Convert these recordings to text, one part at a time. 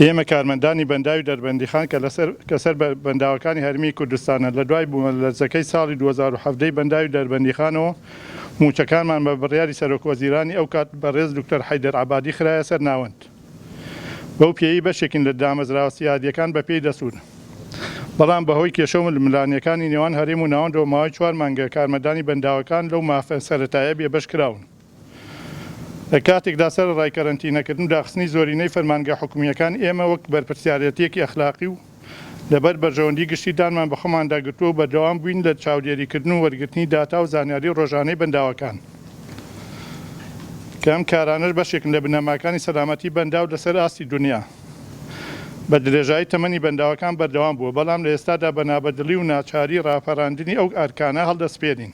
ئێمە کارمەندانی بەنداوی دەربەندیخان کە لەسەر کە سەر بە بەنداوەکانی هەرێمی کوردستانە لە دوای بوومەلەرزەکەی ساڵی دوو هەزار و حەڤدە ی بەنداوی دەربەندیخانەوە مووچەکانمان بە بڕیاری سەرۆک وەزیرانی ئەو کات بەڕێز دوکتۆر حەیدەر عەبادی خرایە سەر ناوەند بەو پێیەی بەشێکین لە دامەزراوە سیادییەکان بە پێی دەسوون بەڵام بە هۆی کێشە و ململانێکانی نێوان هەرێم و ناوەندەوە ماوەی چوار مانگە کارمەندانی بەنداوەکان لەو مافە سەرەتایە بێبەش کراون. لە کاتێکدا سەرەڕای کەرەنتینەکردن و داخستنی زۆرینەی فەرمانگە حکومییەکان، ئێمە وەک بەرپرسیارێتییەکی ئەخلاقی و لەبەر بەرژەوەندی گشتی دانمان بە خۆماندا گرتووە و بەردەوام بووین لە چاودێریکردن و وەرگرتنی داتا و زانیاری ڕۆژانەی بەنداوەکان کە ئەم کارانەش بەشێکن لە بنەماکانی سەلامەتی بەنداو لەسەر ئاستی دونیا بە درێژایی تەمەنی بەنداوەکان بەردەوام بووە بەڵام لە ئێستادا بە نابەدڵی و ناچاری ڕاپەراندنی ئەو ئەرکانە هەڵدەسپێرین.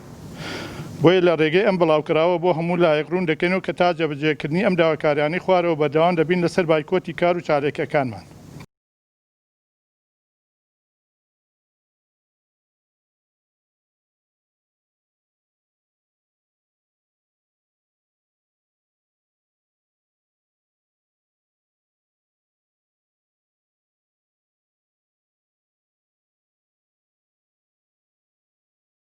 بۆیە لە رێگەی ئەم بڵاوکراوە بۆ هەموو لایەک روون دەکەینەوە کە تا جێبەجێکردنی ئەم داواکاریانەی خوارەوە بەردەوام دەبین لەسەر بایکۆتی کار و چالاکیەکانمان.